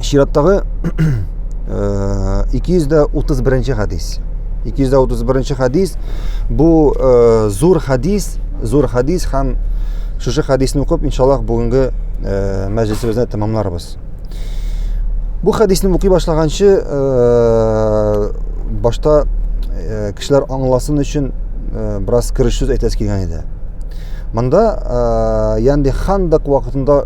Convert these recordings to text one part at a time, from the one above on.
чираттагы 231 хадис. 231 хадис бу зур хадис, зур хадис һәм шушы хадисны укып, иншаллах, бүгенге мәҗлисебезне тәмамларбыз. Бу хадисны укый башлаганчы башта кешеләр аңласын өчен бераз кереш сүз әйтәс килгән иде. Монда Янди Хандак вакытында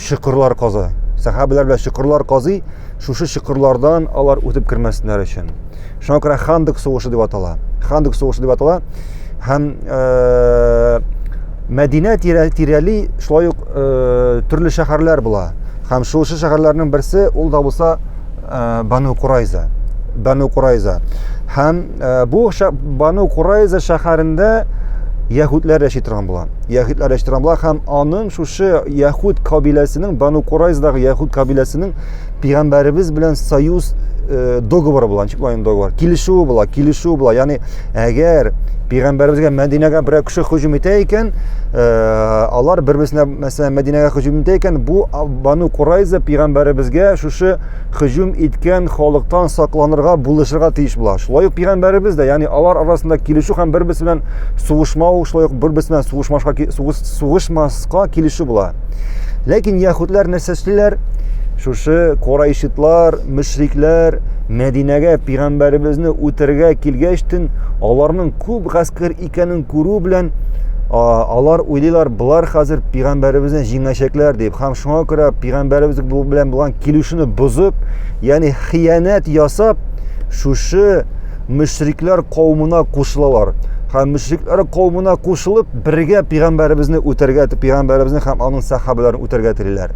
чокырлар каза. Сәхабәләр белән чокырлар казый, шушы чокырлардан алар үтеп кермәсеннәр өчен. Шуңа күрә Хандык сугышы дип атала. Хандык сугышы дип атала. Һәм э, Мәдинә тирәли шулай ук э, төрле шәһәрләр була. Һәм шушы шәһәрләрнең берсе ул да булса Бану Курайза. Бану Курайза. Һәм бу Бану Курайза шәһәрендә яһүдләр яши торган була. Яһүдләр яши торган була һәм аның шушы яһүд кабиләсенең, Бану Курайздагы яһүд кабиләсенең пигамбәребез белән союз договоры була, ничек булган договор? Килешүе була, килешүе була. Ягъни Әгәр пигамбәребезгә Мәдинәгә берәр кеше һөҗүм итә икән, э, алар бер-берсенә, мәсәлән, Мәдинәгә һөҗүм итә икән, бу Бану Курайза пигамбәребезгә шушы һөҗүм иткән халыктан сакланырга, булышырга тиеш була. Шулай ук пигамбәребез дә, ягъни алар арасында килешү һәм бер-берсе белән сугышмау, шулай ук бер-берсе белән сугышмашка сугышмаска килешү була. Ләкин яһүдләр нәрсә эшлиләр? Шушы корайшитлар, мөшрикләр Мәдинәгә пигамбәребезне үтергә килгәч тен аларның күп гаскәр икәнен күрү белән алар уйлыйлар болар хәзер пигамбәребезне җиңәчәкләр дип һәм шуңа күрә пигамбәребез белән булган килешүне бозып ягъни хыянәт ясап шушы мөшрикләр кавымына кушылалар һәм мөшрикләр кавымына кушылып бергә пигамбәребезне үтергә пигамбәребезне һәм аның сахабаларын үтергә телиләр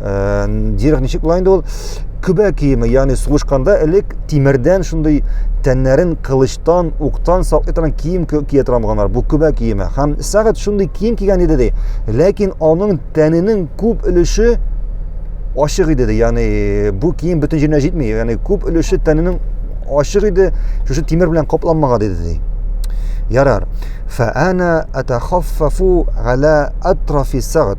Дирек ничек була инде ул? Көбә киеме, ягъни сугышканда элек тимердән шундый тәннәрен кылычтан, уктан саклый торган кием кия торганнар. Бу көбә киеме. Һәм сәгать шундый кием кигән иде ди. Ләкин аның тәненең күп өлеше ачык иде ди. Ягъни бу кием бөтен җиренә җитми. Ягъни күп өлеше тәненең ачык иде, шушы тимер белән капланмаган иде ди. Ярар. Фәана атахаффафу гала атрафи сагат.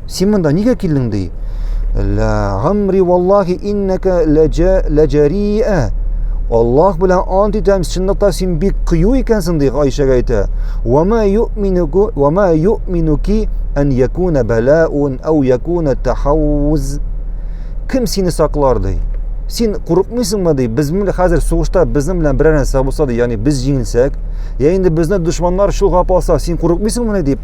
Син монда нигә килдең ди? Ла гамри валлахи иннәкә ләҗәрия. Аллаһ белән ант итәм, чынлыкта син бик кыю икәнсең ди Гайшәгә әйтә. Ва ма юминуку ва ма юминуки ан якуна балаун ау якуна тахауз. Кем сине саклар ди? Син курыкмыйсыңмы ди? Без менә хәзер сугышта безнең белән берәр нәрсә булса ди, ягъни без җиңелсәк, я инде безне дошманнар чолгап алса, син курыкмыйсыңмы дип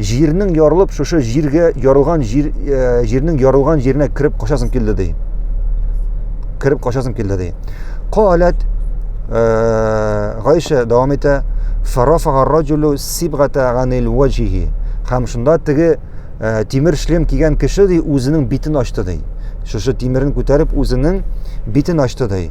Җирнең ярылып шушы җиргә ярылган җир э, җирнең ярылган җиренә кереп качасым килде ди. Кереп качасым килде ди. Каләт э, Гайша дәвам итә. Фарафага раҗулу сибгата ганил ваҗиһи. Хәм шунда теге э, тимер шлем кигән кеше ди үзенең битен ачты ди. Шушы тимерен күтәреп үзенең битен ачты ди.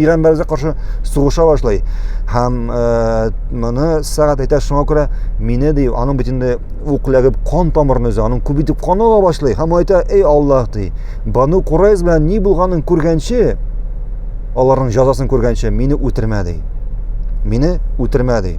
Иран бәрүзә каршы сугыша башлый. Һәм э, моны сәгать әйтә шуңа күрә мине ди, аның бит инде ук ләгеп кан тамырын өзә, аның күп итеп каны ага башлый. Һәм әйтә, "Эй Аллаһ" ди. Бану Курайз белән ни булганын күргәнче, аларның җәзасын күргәнче мине үтермә ди. Мине үтермә ди.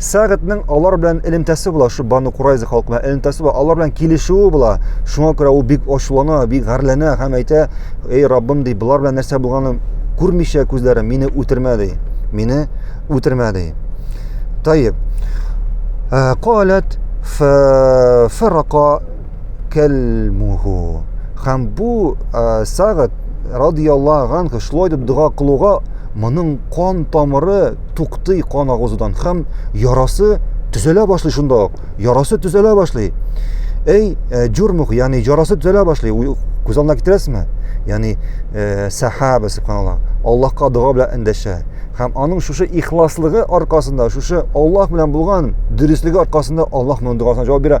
Сәгатьнең алар белән элемтәсе була, шу Бану Курайза халкы белән элемтәсе була, алар белән килешүе була. Шуңа күрә ул бик ачулана, бик гарләнә һәм әйтә, "Эй, Раббым, ди, болар белән нәрсә булганын күрмичә күзләрем, мине үтермә, ди. Мине үтермә, ди." Таеп. Э, Калат фарака кәлмуху. Хәм бу сагыт радияллага анху шулай дип дога кылуга моның кан тамыры туктый кан агызудан хәм ярасы төзәлә башлый шунда ук. Ярасы төзәлә башлый. Әй, э, җурмух, ягъни ярасы төзәлә башлый. Күз алдына китерәсезме? Ягъни э, сахаба субханалла. Аллаһка дога белән эндәшә. Хәм аның шушы ихласлыгы аркасында, шушы Аллаһ белән булган дөреслеге аркасында Аллаһ моның догасын җавап бирә.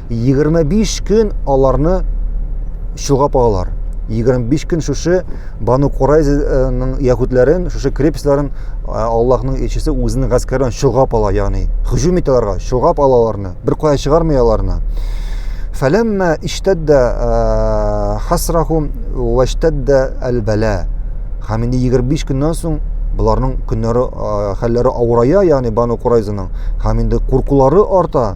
25 көн аларны чолгап алалар. 25 көн шушы Бану Курайзаның яһүдләрен, шушы крепостьларын Аллаһның илчесе үзенең гаскәрен чолгап ала, ягъни һөҗүм итә аларга, чолгап ала аларны, бер кая чыгармый аларны. Фәләммә иштәддә хасрахум ва иштәддә әл-бәла. Һәм инде 25 көннән соң боларның көннәре хәлләре авырая, ягъни Бану Курайзаның, һәм инде куркулары арта.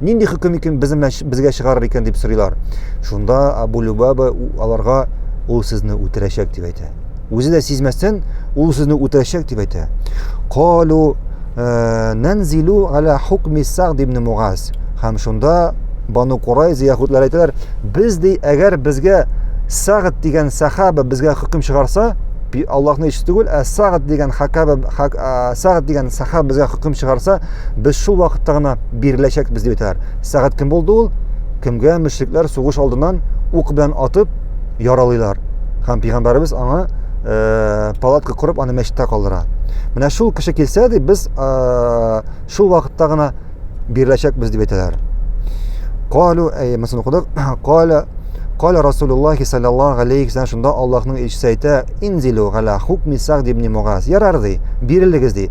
Нинди хөкем икән безне безгә чыгарыр икән дип сорыйлар. Шунда Абу Любаба аларга ул сезне үтерәчәк дип әйтә. Үзе дә сизмәстән ул сезне үтерәчәк дип әйтә. Калу э, нанзилу аля хукми сагд ибн Мугаз. Һәм шунда Бану Курайза яһудлар әйтәләр, без ди, әгәр безгә Сагд дигән сахаба безгә хөкем чыгарса, Аллаһны ич түгел, ә Сагд дигән хакаба Сагд дигән сахаба безгә хөкем чыгарса, без шул вакытта гына биреләчәк без дип әйтәләр. Сәгать кем булды ул? Кемгә мөшрикләр сугыш алдыннан ук белән атып яралыйлар. Һәм пәйгамбәребез аңа э, палатка корып аны мәчеттә калдыра. Менә шул кеше килсә ди, без э, шул вакытта гына биреләчәк без дип әйтәләр. Калу, әй, мәсәлән, укыдык. Кала Кала Расулуллах саллаллаху алейхи вәсәлләм шунда Аллаһның илчесе әйтә, "Инзилу гала хукми Сагд ибн Мугаз". Ярар ди, бирелегез ди.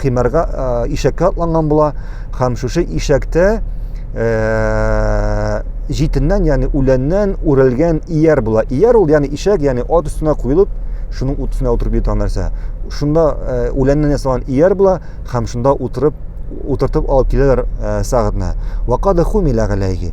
химәргә ишәккә атланган була һәм шушы ишәктә җитеннән ягъни үләннән үрелгән ияр була ияр ул ягъни ишәк ягъни ат өстенә куелып шуның утына утырып йөргән нәрсә шунда үләннән ясалган ияр була һәм шунда утырып утыртып алып киләләр сәгатьне вакада хумила галәйһи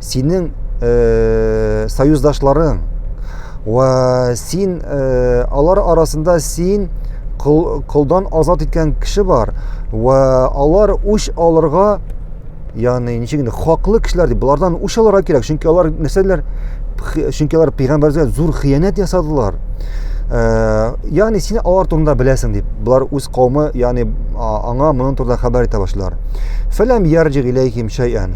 синең э, союздашларың вә син э, алар арасында син кол, колдан азат иткән кеше бар вә алар үч алырга ягъни ничек инде хаклы кешеләр дип болардан үч алырга кирәк чөнки алар нәрсәләр чөнки алар пәйгамбәргә зур хыянәт ясадылар ә, ягъни син алар турында беләсең дип болар үз кауымы ягъни аңа моның турында хәбәр итә башлар фәләм ярҗи иләйһим шәйән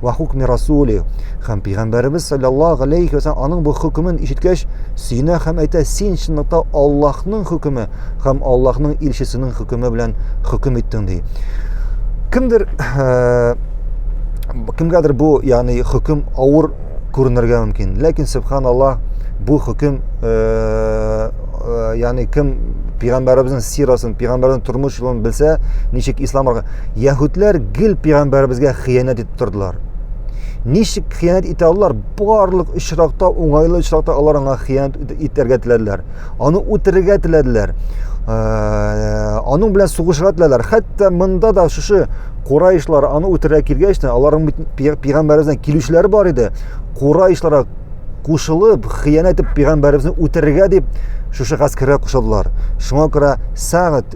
Ва хукми расули һәм пигамбәребез саллаллаһу алейхи вәсәлләм аның бу хөкемен ишеткәч, сөенә һәм әйтә, син чынлыкта Аллаһның хөкеме һәм Аллаһның илчесенең хөкеме белән хөкем иттең ди. Кемдер э, кемгәдер бу, ягъни хөкем авыр күренергә мөмкин. Ләкин субханаллаһ бу хөкем э, э, ягъни кем пигамбәребезнең сирасын, пигамбәрнең тормыш юлын белсә, ничек ислам Яһүдләр гел пәйгамбәребезгә хыянәт итеп тордылар. Ничек хыянәт итә алар? Барлык очракта, уңайлы очракта алар аңа хыянәт итәргә теләделәр. Аны үтерергә теләделәр. Э, аның белән сугышырга теләделәр. Хәтта монда да шушы Курайшлар аны үтерә килгәч тә, аларның пәйгамбәребезнең килүчеләре бар иде. Курайшларга кушылып, хыянәт итеп пәйгамбәребезне үтерергә дип шушы гаскәргә кушылдылар. Шуңа күрә Сагыт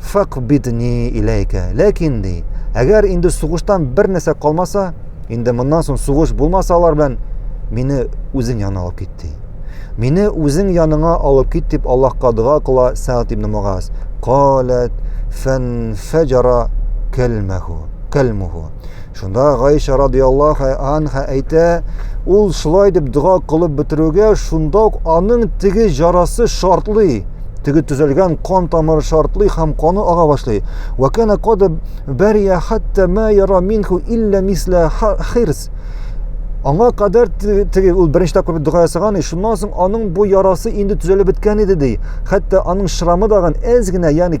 факбидни иләйкә. Ләкин ди, әгәр инде сугыштан бер нәрсә калмаса, инде моннан соң сугыш булмаса алар белән мине үзең янына алып кит ди. Мине үзең яныңа алып кит дип Аллаһка дога кыла Сәгъд ибн Мугаз. Калат фан фаҗара калмаху. Калмуху. Шунда Гайшә радиаллаһу анха әйтә, ул шулай дип дога кылып бетерүгә, шунда ук аның теге җарасы шартлый, теге төзәлгән кан тамыры шартлый һәм каны ага башлый. Ва кана кад бария хатта ма яра минху илля мисла хирс. Аңа кадәр теге ул беренче тапкыр дога ясаган, шуннан соң аның бу ярасы инде төзәлеп беткән иде ди. Хәтта аның шрамы дагын әз генә, ягъни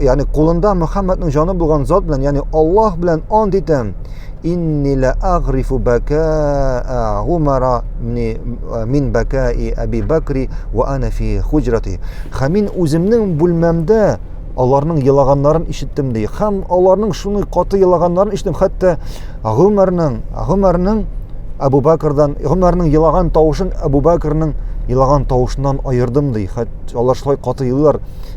ягъни кулында Мөхәммәднең җаны булган зат белән, ягъни Аллаһ белән ант итәм. Инни ла агрифу бакаа Умара мин бакаи Аби Бакри ва ана фи хуҗрати. Һәм мин үземнең бүлмәмдә аларның елаганнарын ишеттем ди. Һәм аларның шуны каты елаганнарын ишеттем, хәтта Гомәрнең, Гомәрнең Абу Бакрдан, Гомәрнең елаган тавышын Абу Бакрның елаган тавышыннан аердым ди. Хәтта алар шулай каты елыйлар.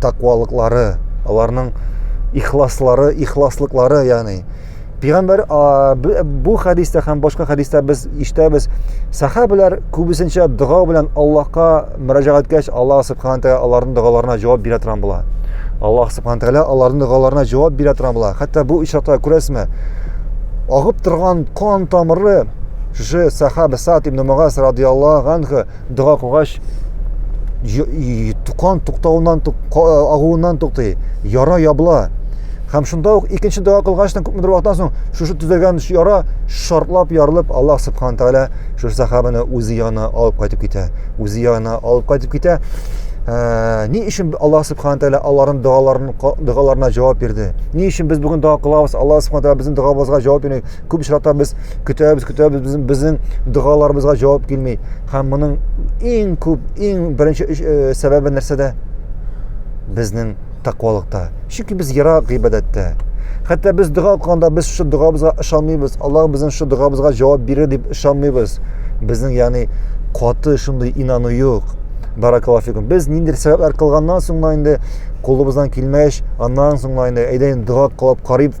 тәкъвалыклары, аларның ихласлары, ихласлыклары, ягъни Пәйгамбәр бу хәдистә һәм башка хәдистә без ишетәбез, сахабәләр күбесенчә дога белән Аллаһка мөрәҗәгать иткәч, Аллаһ субхана тәгалә аларның догаларына җавап бирә торган була. Аллаһ субхана тәгалә аларның догаларына җавап бирә торган була. Хәтта бу очракта күрәсезме, агып торган кан тамыры шушы сахабә Сад ибн Мугаз радиаллаһу анху дога кылгач кан туктауыннан агуыннан туктый яра ябыла һәм шунда ук икенче дога кылгачтан күпмедер вакыттан соң шушы төзәлгән яра шартлап ярылып аллаһ субхан тәгалә шушы сахабаны үзе янына алып кайтып китә үзе янына алып кайтып китә ә, ни өчен аллаһ субхан тәгалә аларның догаларын догаларына җавап бирде ни өчен без бүген дога кылабыз аллаһ субхан тәгалә безнең догаыбызга җавап бирмәй күп очракта без көтәбез көтәбез безнең безнең догаларыбызга җавап килми һәм моның иң күп иң беренче э, сәбәбе нәрсәдә безнең тәкъвалыкта чөнки без ерак гыйбадәттә хәтта без дога кылганда без шушы догабызга ышанмыйбыз аллаһ безнең шушы догабызга җавап бирер дип ышанмыйбыз безнең ягъни каты шундый инану юк баракаллаху фикум без ниндидер сәбәпләр кылганнан соң инде кулыбыздан килмәгәч аннан соң инде әйдә инде дога кылып карыйбыз